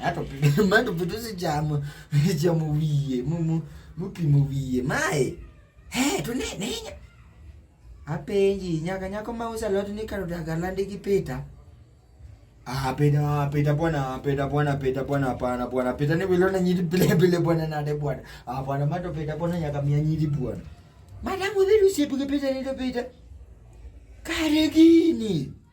Ato mano vitu sichamo sichamo wiye mumu mupimo wiye mae he to ne ne apenji nyaka nyako ma usa lot ni karo daga landi gi pita ah pita pita bwana pita bwana pita bwana hapana bwana pita ni wilona nyiri bile bile bwana nade bwana ah bwana mato pita bwana nyaka mia nyiri bwana madamu vitu sipi pita ni pita kare gini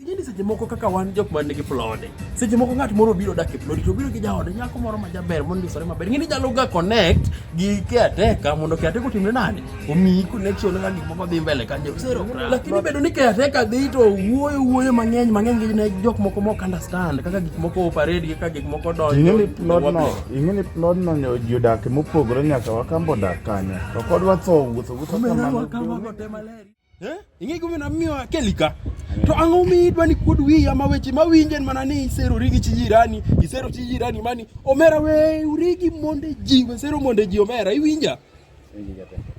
Ingeni seche moko kaka wan jok man nigi plode. Seche moko ng'at moro biro dak e plode to biro gi jaode nyako moro ma jaber mondo isore maber. Ingeni jalo ga connect gi caretaker mondo caretaker otimne nani? Omiyi connection ga gik moko dhi mbele kanyo. Sero. Lakini bedo ni caretaker dhi to wuoyo wuoyo mang'eny mang'eny gi ne jok moko mok understand kaka gik moko operate gi kaka gik moko donjo. Ingeni plode no, ingeni plode no nyo jodak mopogore nyaka wakambo dak kanyo. To kod watho wuotho wuotho kamano. Kamano tema leri. Eh? Ing'e gumi na miyo kelika. To ang'o mi idwa ni kuod wiyi ama weche ma winjen mana ni isero rigi chi jirani, isero chi jirani mani omera we urigi monde ji, we sero monde ji omera iwinja?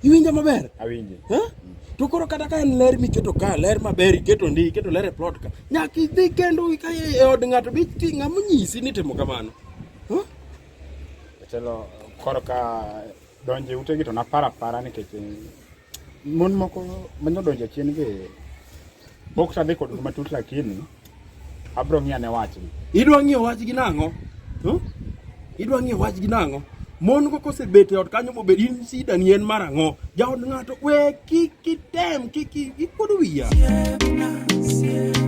Iwinja maber? Awinje. Eh? To koro kata ka en ler miketo ka, ler maber iketo ndi, iketo ler e plot ka. Nyaka idhi kendo ka e od ng'ato bi ting'a monyisi ni timo kamano. Eh? Chelo koro ka donje utegi to napara para nikech Mon moko manyo donjo chien be pok sadhi kod matut lakini abro ng'iyo ne wachni. Idwa ng'iyo wachgi nang'o? Hmm? Idwa ng'iyo wachgi nang'o? Mon go kosebet e ot kanyo mobed in sida ni en mar ang'o? Jaod ng'ato we kik kitem kik ikod wiya. Yeah, nah, yeah.